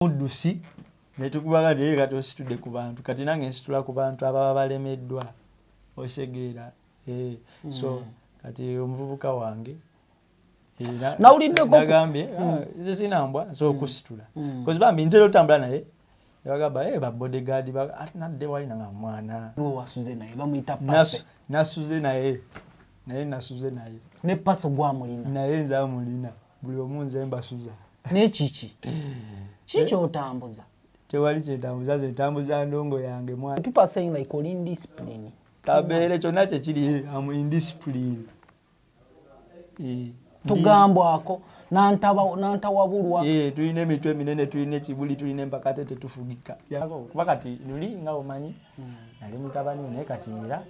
muddusi netukubaga naye kati ositudde ku bantu kati nange nsitula ku bantu ababa balemeddwa osegeera eh, so mm. kati omuvubuka wange eh, nawuliddegambye ah, mm. nze sinambwa nsobola mm. okusitula kozi bambi ntera otambula naye yabagamba e eh, babodegaadi ati nadde wali nanga mwana nasuze naye naye nasuze naye ne paso gwamulina naye nze amulina buli omu nze mbasuza nekiki kiki eh? otambuza tewali kyetambuza nze ntambuza ndongo yange mwana people are saying like oli indiscipline kabeere kyonna kyekiri am indiscipline eh, tugambwako nantawabulwa eh, tulina emitwe eminene tulina ekibuli tulina empakate tetufugika kuba kati luli nga omanyi hmm. nali mutabani naye kati era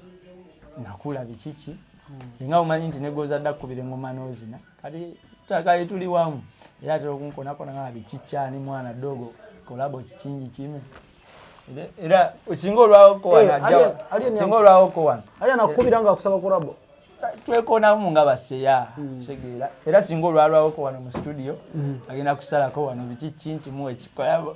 nakula bikiki hmm. nga omanyi nti negozadda kukubira engoma nozina kati taka ituli wamu era tero kunkona kona nga bichicha ni mwana dogo kolabo chichingi chimu era usinga olwawo ko wana eh, jawa usinga olwawo ko wana ali anakubira nga kusaba kolabo twekona mu nga baseya hmm. shegera era singa olwawo ko wana mu studio hmm. agenda kusala ko wana bichichingi mu ekikolabo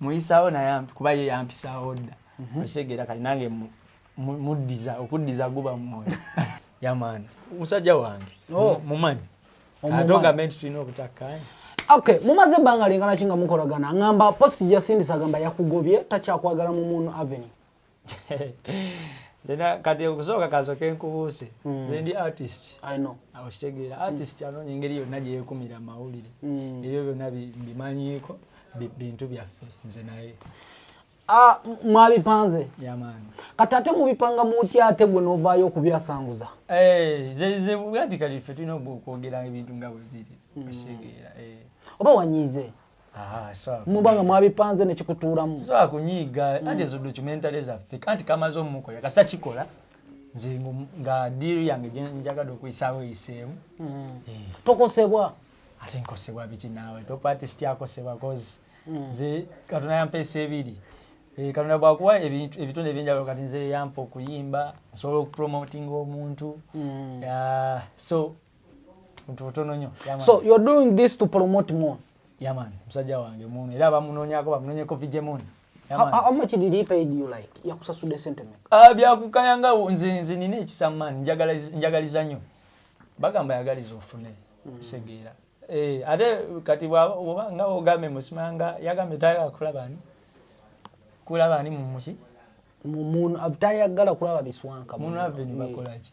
muyisawo naye kuba ye yampisawo dda mhm. okitegera kati nange muddiza okuddiza guba mwoyo yamaani musajja wange oh. mumanyi ate ogambe nti tulina obutakkaanya okay mumaze ebbanga lingana ki nga mukolagana ngamba post jasindisa agamba yakugobye takyakwagala mu muunu avenue Lena kati okusooka kasoke nkubuuse mm. zendi artist okitegeera ah, artist mm. anoonya engeri yonna gyeyekumira amawulire mm. ebyo byonna mbimanyiiko bintu byaffe nze naye ah, mwabipanze kati ate mubipanga mutya ate gwe novaayo okubyasanguza eh, zebwati kati ffe tulina okwogeranga ebintu nga bwebiri okitegeera eh. oba wanyiize mubanga mwabipanze nekikutuulamu sobola kunyiiga anti ezo documentary zaffe kanti kamaze omukola kasita kikola nze nga diiru yange gyenjagadde okuyisaawo eyiseemu hmm. eh. tokosebwa ate nkosebwa biki naawe topati sityakosebwa kozi hmm. nze katonda yampa esa ebiri eh, katonda bwakuwa ebitundu ebyenjawulo kati nze yampa okuyimba nsobola okupromotinga omuntu hmm. so so you're doing this to promote moon yaman musajja wange moon era bamunonyako bamunonyeko vije moon How, how much did he pay you like yakusasude sente me ah byakukaya nga nze nze nina ekisama njagala njagaliza nyo bagamba yagaliza ofune mm. segeera eh ate kati bwaba nga ogambe musimanga yagambe tayagala kulaba ni kulaba ni mumushi mumuntu avitayagala kulaba biswanka muno aveni bakolaki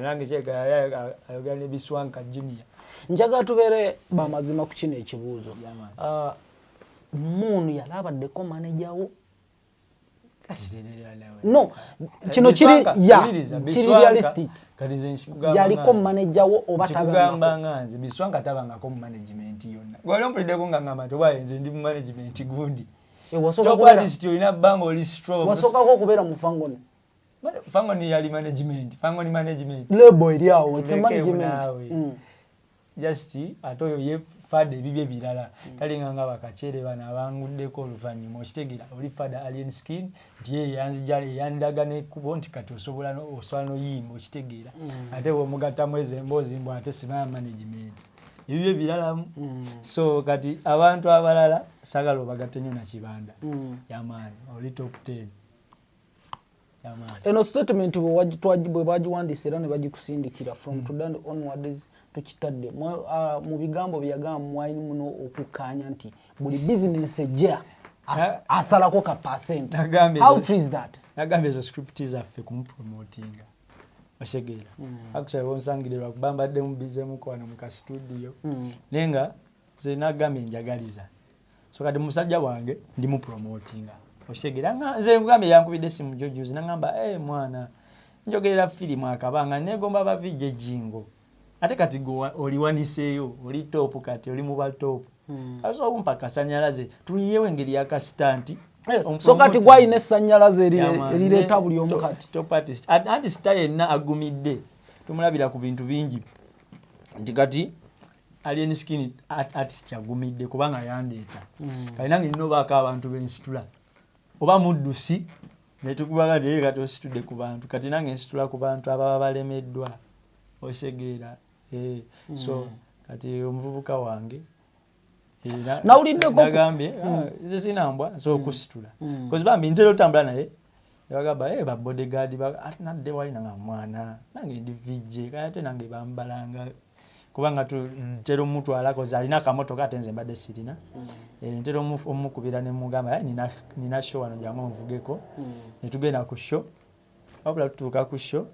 nange kyeka ayogera ne biswanka junior njagala tubeere bamazima ku kino ekibuuzo ah, muunu yali abaddeko maneja wo no kino kiri ya kiri realistic yaliko maneja wo oba tabangakugamba nga nze biswanga tabangako mu management yonna gwali ompulideko nga ngamba nti oba nze ndi mu management gundi eh, olina banga oli strowasookako okubeera mu fangoni fangoni yali management fangoni management lebo eri awo ekyo management mm. just ate oyo ye fada ebibye birala mm. talinga nga bakachere bano abanguddeko oluvannyuma okitegera oli fada alien skin nti ye yanzija yandaga nekubo nti kati osobola oswala noyimba okitegeera mm. ate bwomugattamu ezo emboozi mbu ate simaya management ebibyo ebiralamu mm. so kati abantu abalala sagala obagatte nyo nakibanda mm. yamaani oli top ten eno statement bwe bagiwandiisa era ne bagikusindikira from mm. today onwards tukitadde ah, mu bigambo byeyagamba mwali muno okukkaanya nti buli bizinensi ejja asalako ka percent how true is that nagambye ezo script zaffe kumupromotinga osegeera mm. actually bonsangire lwakuba mbadde mubize mukwano mu ka studio mm. naye nga nze nagambye njagaliza so kati musajja wange ndi mu promotinga okitegera nga nze nkugambye yankubidde essimu jojuzi nangamba e eh, mwana njogerera firimu akabanga negomba bavijja ejingo ate kati oliwaniseeyo oli topu kati oli muba topu hmm. kasobola kumpa kasanyalaze tuyiyewo engeri yakasita nti Eh, so kati gwalina esanyalaze erireeta buli omu kati anti sita yenna agumidde tumulabira ku bintu bingi nti kati alien skin artist kyagumidde kubanga yandeeta mm. kale nange nina obaako abantu bensitula oba muddusi netukubaga naye kati ositudde ku bantu kati nange nsitula ku bantu ababa balemeddwa osegeera eh, so mm. kati omuvubuka wange nawuliddegambye ah, mm. nze sinambwa nsobola okusitula kozi bambi ntera otambula naye nebagamba hey, eh, babodegaadi ate nadde wali nanga mwana nange ndi vijje kale ate nange bambalanga kubanga ntera omutwalako alina akamotoka ate nze mbadde sirina mm. eh, ntera omukubira nemugamba eh, nina sho wano jangu onvugeko mm. netugenda ku sho wabula tutuuka ku sho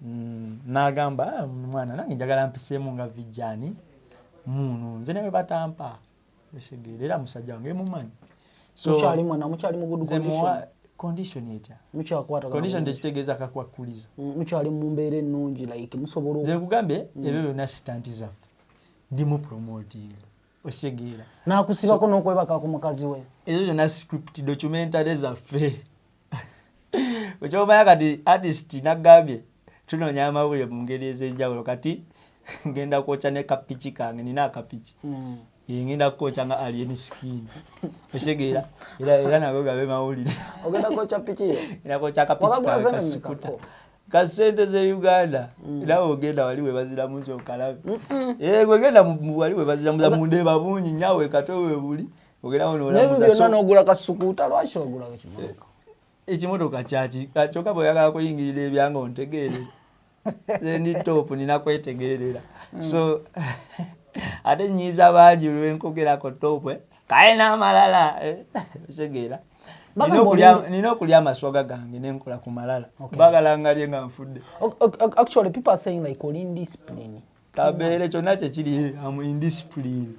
mm, nagamba ah, mwana nange njagala mpiseemu nga vijjani muno nze newe batampa Esegeera era musajja wange mumanyi. So mukyali mwana mukyali mu good condition. Condition etya? Mukyakwata. Condition tekitegeeza kakwakulizo. Mm, mukyali mu mbeera ennungi like musobola. Nze nkugambye mm. ebyo byonna sitanti zaffe. Ndi mu promoting. Osegeera. Nakusibako so, n'okwebaka ku mukazi we. Ezo zonna script documentary zaffe. ekyomanya kati artist nagambye tunoonya amawulire mu ngeri ez'enjawulo kati ngenda kwokya ne kapiki kange nina akapiki hmm. eh, ngenda kukokya nga alien skin otegeera era nago gabe mawulire nakokakapikasukuta kasente ze uganda hmm. nawe ogenda wali webaziramu zokalabe eh, gwegenda wali webaziramu munde babungi nyawe katwe webuli byonna nogula kasukuuta lwaki ogula ekimotoka eh, ekimotoka kyaki ah, kyokka bweyagala kuyingirira ebyanga ontegeere ni top nina kwetegeerera hmm. so ate nyiiza bangi lwenkogerako topwe eh. kaye n'amalala eh. otegeera nina okulya amaswaga gange nenkola ku malala bagala ngalye nga nfudde actually people are saying like oli indiscipline kabeere kyonna kyekiri am indiscipline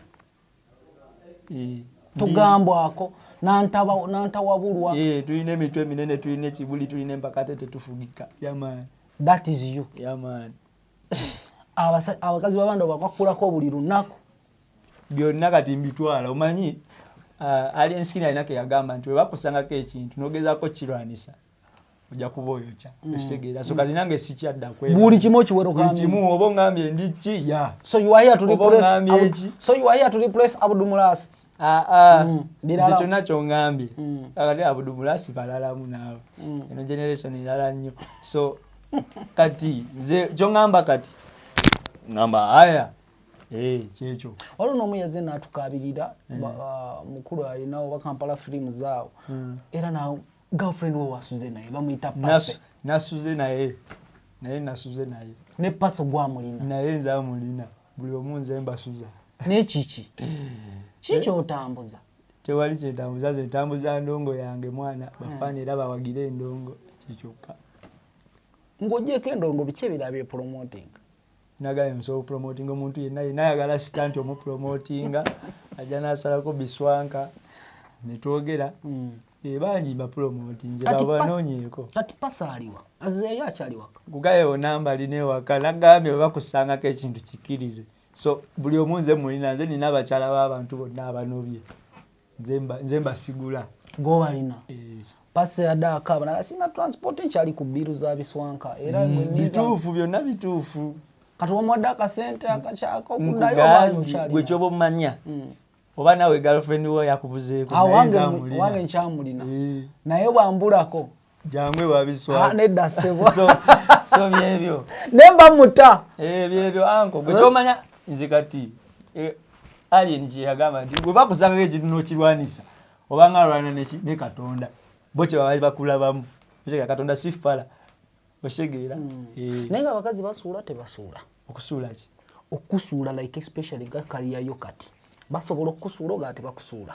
eh, tugambwako nantawabulwa eh, tulina emitwe eminene tulina ekibuli tulina empakate tetufugika yaman that is you yaman abakazi babanda bakwakulako buli lunaku byonna kati mbitwala omanyi uh, ali ensikini alina keyagamba nti webakusangako ekintu nogezako kirwanisa ojja kuba oyokya mm. ekitegeera so kati nange sikyaddakbuli kimu okiwerobuli kimu oba ongambye ndi ki ya so you are here to replace eki so you are here to replace abudumulasi ah, ah. mm. nze kyonna kyongambye mm. kakati abudumulasi balalamu naawe eno generation erala nnyo so kati nze kyongamba kati ngamba aya eh, kyekyo waliwo nomu yaze natukabirira eh. ah, mukulu alinawo bakampala firimu zaawo era nawe girlfriend wo wasuze naye bamuyita pase nasuze naye naye nasuze naye ne paso gwamulina naye nze amulina buli omu nze mbasuza naye kiki kiki otambuza tewali kyetambuza nze ntambuza ndongo yange mwana hmm. bafaana era bawagire endongo kikyokka ng'ogyeko endongo biki ebirabye promoting nagambye musobola okupromotinga omuntu yenna yenna ayagala sita nti omupromotinga ajja nasalako biswanka netwogera hmm. eh, bangi bapromotinze babanonyeko kati pasa aliwa azeeyo akyaliwaka kugaye onamba alina ewaka nagambye webakusangako ekintu kikkirize so buli omu nze mulina nze nina abakyala b'abantu bonna abanobye nze mbasigula gobalina eh. pasi yadaaka abana sina transport ekyali ku biiru za biswanka era mm, bituufu byonna bituufu kati wamuwadde akasente akakyakokudayogwe kyoba omumanya mm. oba nawe girlfriend wo yakubuzeeko wange nkyamulina eh. naye bwambulako jangu ewabiswa ah, nedda sebo so, so byebyo nemba muta eh, byebyo anko gwekyomanya nze kati eh, alien kyeyagamba nti gwe bakusangako ekintu nokirwanisa obanga alwana ne katonda bo kyebabali bakulabamu okitegera katonda si fala okitegeera hmm. eh. naye nga abakazi basuula tebasuula okusuula ki okusuula like especially gakaliyayo kati basobola okukusuula ogaa tebakusuula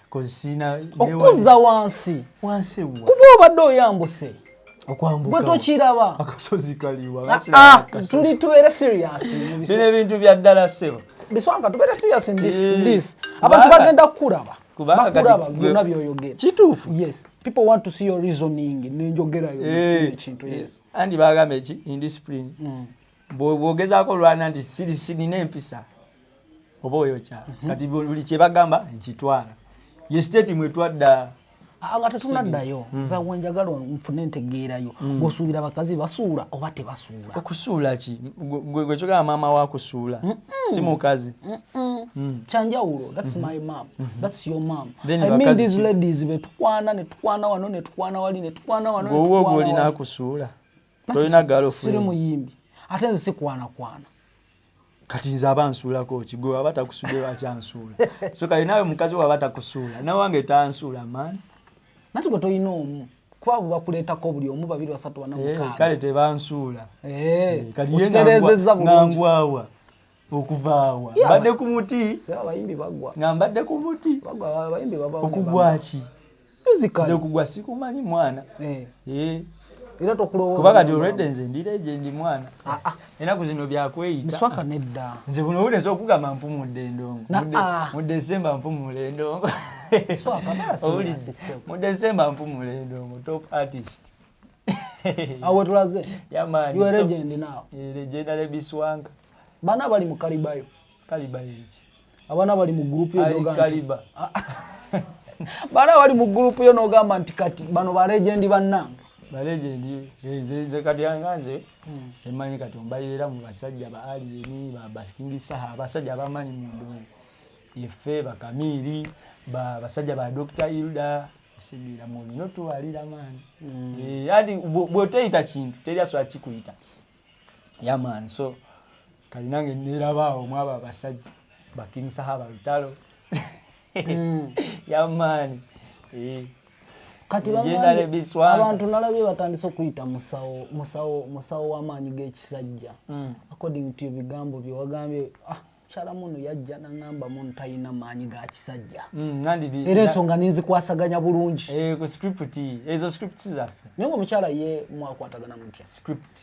okuzza wansi kuba obadde oyambuse gwe tokiraba ah, tuli tubeere seriasbino ebintu bya ddala sebo biswanka tubeere serious ndis eh, abantu bagenda kukulaba bakulaba byonna byoyogera kituufu yes people want to see your reasoning nenjogerayo eh, ekintu yes andi bagamba eki indiscipline mm. bwogezaako olwana nti sirisinina empisa oba oyokya mhm. kati buli kyebagamba nkitwala ye state mwetwadda ah, nga tetunaddayo hmm. zawe njagala nfune entegeerayo hmm. gwosuubira abakazi basuula oba tebasuula okusuula ki gwekyogala maama wakusuula si mukazi hmm. kyanjawulo thats my mam thats your mam i mean these ladies betukwana netukwana wano netukwana wali netukwana wano gwowe ogwolina akusuula siri muyimbi ate nze sikwanakwana kati nze aba nsuulako ki gwe waba takusudde lwaki ansuula so kati naawe mukazi waba takusuula nawange tansuula maani nati gwe tolina omu kwabo bakuleetako buli omu babiri basatu banamukaaga eh, kale tebansuula eh, eh, kati ye nangwawa okuvaawa mbadde ku muti abayimbi bagwa nga mbadde ku muti abayimbi okugwaki nze okugwa sikumanyi mwana eh. Eh. era tokulowoozakuba kati olwedde nze ndira egye ndi mwana ah, ah. enaku zino byakweyitaaka nedda nze buno wuleza okugamba mpumudde endongo ah. mu desemba mpumula endongo owulidde mu desemba mpumula endongo top artist awe tulaze yamani so, legend now legendary biswanka bana abali mu kalibayo kalibayo eki abana abali mu group yo doga kaliba bana abali mu group yo nogamba nti kati bano ba legend banange ba legend ze kati anganze hmm. semanyi kati mbayira mu basajja ba ali ni ba baskingi saha basajja ba mani mu ndo yefe ba kamiri ba basajja ba doctor ilda sigira mu bino tuwalira mani mm. e, eh, adi bwoteyita kintu teri asobola kikuyita yaman so kalinange nerabaawo mwabo abasajja baking sahaba lutalo mm. yamaani eh. kati abantu nalabye batandise okuyita musawo musawo musawo wamaanyi gekisajja mm. according to ebigambo byewagambye ah, mukyala muno yajja nangamba muno talina maanyi ga kisajja mm, era ensonga ninzikwasaganya bulungi eh, naye omukyala ye mwakwatagana mutya script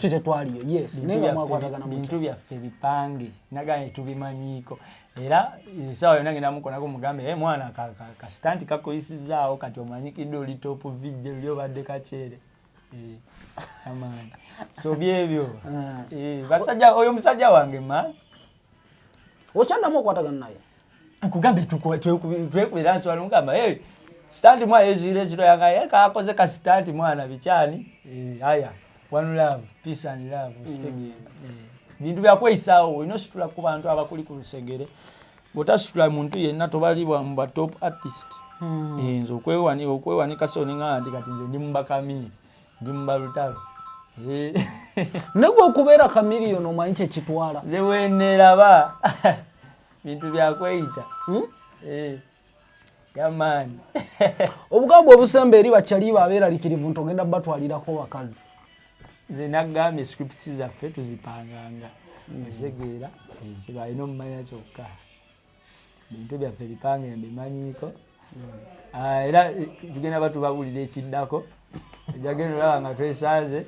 tetwaliyo yesbintu byaffe bipange nagambye tubimanyiiko era esawa eh, yona ngenda mukonako mugambe e eh, mwana kasitanti kakuyisizaawo kati omanyikidde oli top vijje luli obadde kakyere Eh, amaanyi so byebyo ah. eh, basajja oyo musajja wange ma okyaddamu okwatagana naye nkugambye twekubira nswala mugamba hey, sitanti mwana yeziire ekiro yanga ye kakoze ka sitanti mwana bikyani eh, aya one love peace and love mm. sitegenda bintu byakweyisaawo olina ositula ku bantu abakuli ku lusegere bwotasitula muntu yenna tobalibwa mu ba top artist hmm. eh, nze okwewanika so nengamba nti kati nze ndi mubakamiiri ndi mubalutalo eh. negwe okubeera kamiliyoni omanyi kyekitwala nze weneraba bintu byakweyita hmm? eh. yamaani obugamba obusemba eri bakyaliiba abeeralikirivu nti ogenda batwalirako bakazi nze nagambye scripts zaffe tuzipanganga mm. ezegeera eh, kyebalina omumanya kyokka bintu byaffe bipange mbimanyiiko mm. ah, era eh, tugenda batubabulira ekiddako ejagenda olaba nga twesanze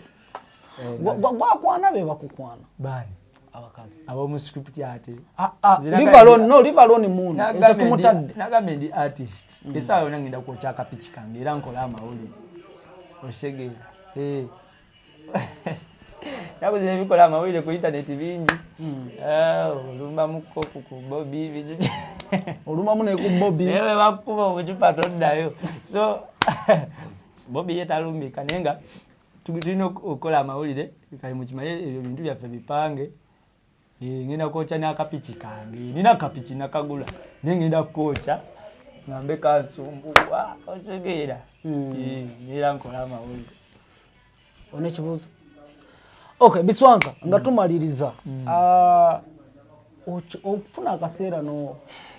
eh, gwakwana bebakukwana bani abakazi abamu script ate ah, ah, live alone no live alone moon ekyo tumutadde nagambe ndi artist mm. esawa yona ngenda kwokya akapiki kange era nkola amawulire osege eh. nakuzi nebikola amawulire ku intaneti bingi mm. eh, olumbamuko ku bobi olumamu neku bobi ewe bakuba obucupa toddayo so bobi yetalumbika naye nga tulina okukola amawulire kali mukimaye ebyo bintu byaffe bipange eh, ngenda kwokya n'akapiki kange nina akapiki nakagula naye ngenda kukokya ngambe kansumbuwa otegeera hmm. eh, era nkola amawulire olina ekibuuzo okay biswanka nga tumaliriza hmm. ah, okufuna akaseera no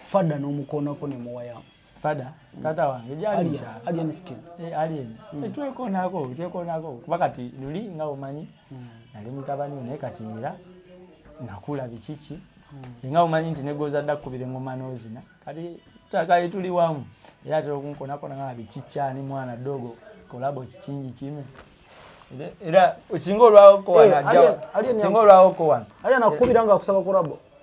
fadda n'omukoonako ne muwayamu fada tata wange gyali mukyalo alien skin eh alien mm. Eh, twekoonako twekoonako kuba kati luli nga omanyi mm. nali mutabani naye kati era nakula bikiki mm. nga omanyi nti negoza dda kukubira engoma n'ozina kati takali tuli wamu era atera okunkonakona nga bikikyani mwana dogo kolabo kikingi kime era singa olwawoko wanasinga eh, olwawoko wana ali anakukubira nga akusaba kolabo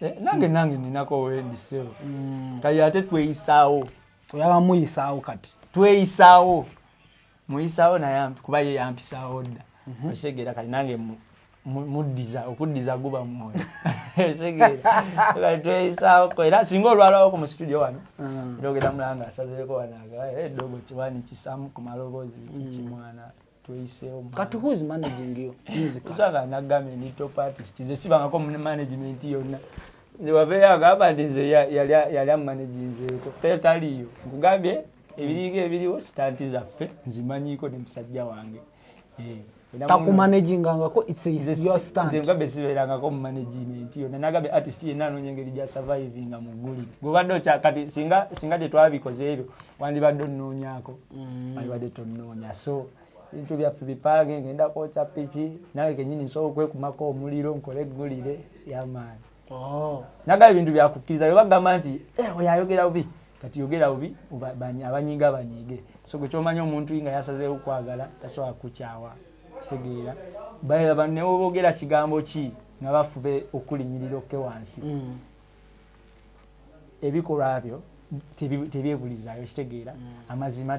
Eh, nange nange ninako wendi sebo mm. kati ate tweyisaawo oyaba muyisaawo kati tweyisaawo muyisaawo naye kuba ye yampisaawo dda mhm. okitegera kati nange muddiza okuddiza guba mwoyo tweyisaawo era singa olwalawo ku mu situdio wano mm. era ogenda mulanga asazeeko wanaga edogo eh, kiwani kisamu ku maloboozi kikimwana mm. kati who's managing you musicalsanga nagambye ndi top artist nze sibangako mu management yonna nze wabeeyo agamba nti nze yali amumanaginzeeko te taliyo nkugambye ebiriga ebiriwo sitanti zaffe nzimanyiiko ne musajja wange eh, takumanagingangako nzemugambye sibeerangako mu management yonna nagambye artist yenna anoonya engeri gya survivinga mu guli gobadde okyakati singa tetwabikoze ebyo wandibadde onoonyako mm. alibadde tonoonya so ebintu byaffe bipange ngenda kwokya piki nawe kenyini nsobola okwekumako omuliro nkole eggulire yamaani oh. nagaba ebintu byakukkiriza bebagamba nti eh, oyo ayogera bubi kati yogera bubi abanyiiga banyiige so gwe kyomanya omuntu nga yasazeewo okwagala tasobola kukyawa kutegeera balaba newoboogera kigambo ki nga bafube okulinyirira okke wansi mm. ebikolwa byo tebyebulizaayo kitegeera mm. amazima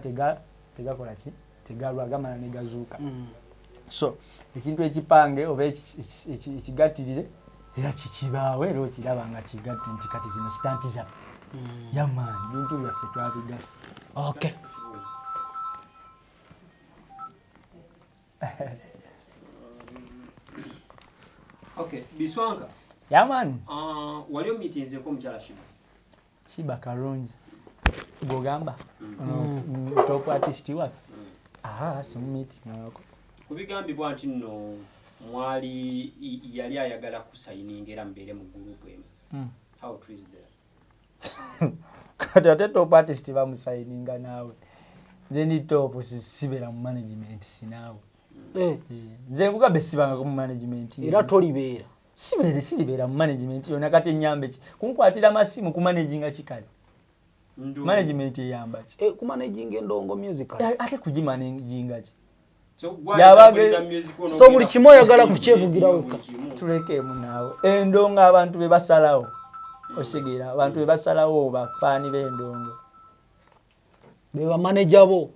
tegakola ki tegalwa gamala negazuuka mm. so ekintu ekipange oba ekigattirire era kikibaawo era okiraba nga kigatte nti kati zino sitanti zaffe mm. yamaanyi bintu byaffe twabigasi okay okay biswanka yeah man uh, walio meetings ko mchala shiba shiba karungi gogamba mm. no, mm. mm top artist wa mm. ah sim meeting nako kubigambibwa nti no mwali yali ayagala kusayininga era mbeere mu gurupu emu mm. how true is that kati ate top artist bamusayininga naawe nze ndi top sibera mu management sinaawe eh. Eh, nze mugabe sibangako mu management era tolibeera sibeere siribeera mu management yona kati enyambe ki kunkwatira masimu ku managinga kikale management eyamba ki eh, ku managinga endongo music ate kugimanaginga ki so buli kimu oyagala kukyevugira wekka tulekeemu naawe endongo abantu be basalawo osigera abantu be basalawo bafaani b'endongo be bamaneja bo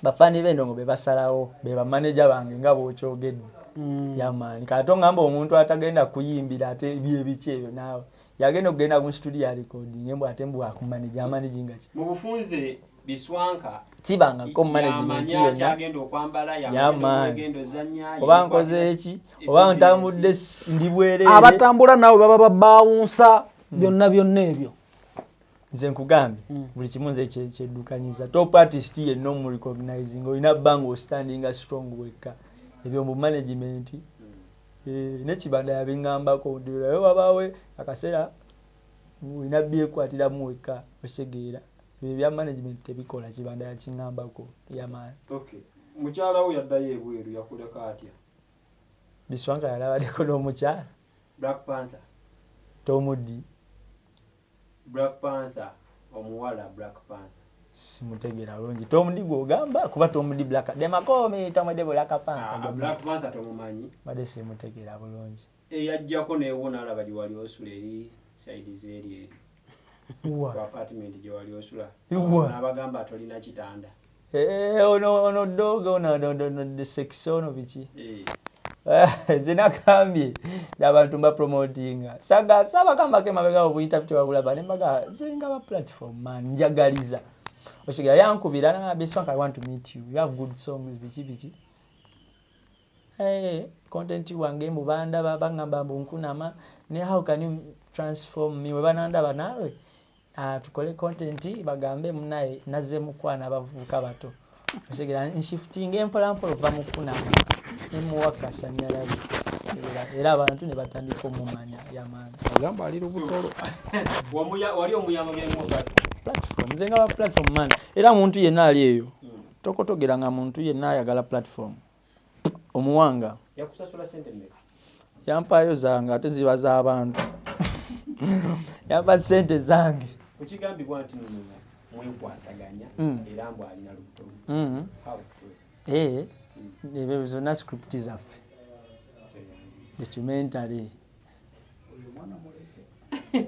bafaani b'endongo be basalawo be bamaneja bange nga bwokyogedde mm. yamaani kati ongamba omuntu atagenda kuyimbira ate byebiki ebyo naawe yagenda okugenda mu situdiyo alikodinge mbu ate mbu akumaneja amanejingaki biswanka kibangako management yonna oba nkoze eki oba ntambudde ndi bwereere abatambula naawe baba babaawunsa hmm. byonna byonna ebyo nze nkugambye hmm. buli kimu nze kyeddukanyiza top artist yenna omurecognizing olina bbanga ostandinga strong wekka ebyo mu management hmm. eh, nekibanda yabingambako ndirayo wabaawe akaseera olina byekwatiramu wekka osegeera ebyo bya management tebikola kibanda yakingambako yamaani okay. mukyala wo yaddayo ebweru yakuleka atya biswanga yalabadeko n'omukyala black panther tomuddi black panther omuwala black panther simutegera bulungi tomudi gwogamba kuba tomudi black demakomi tomudi black panther ah, black panther tomumanyi bade simutegera bulungi eyajjako newo nalaba gyewali osula eri saidi zeri eri apartment gyewali osula nabagamba tolina kitanda eh, ono ono doga ono sex ono biki eh. Eh, zinakambye abantu mbapromotinga saga saba kambako emabega obuyitabu tewabulaba nembaga zinga ba platform man njagaliza osigala yankubira nabiswank i want to meet you you have good songs biki biki Hey, content wange mbu bandaba bangamba mbu nkunama ne how can you transform me webanandaba naawe uh, tukole content bagambe munaye naze mukwana abavubuka bato otegera nshifting empolampola ova mukunama nemuwa kasanyalabi era abantu ne batandika omumanya yamaani agamba ali lubutolo wali omuyamba platform nze nga ba platform man era muntu yenna ali eyo hmm. tokotogera nga muntu yenna ayagala platform omuwanga yakusasula sente mmeka yampaayo zange ate ziba z'abantu yampa sente zange ekigambibwa nti mwekwasaganya mm. era mbu alina lubuto mm-hmm. eh, mm. ebyo zonna script zaffe documentary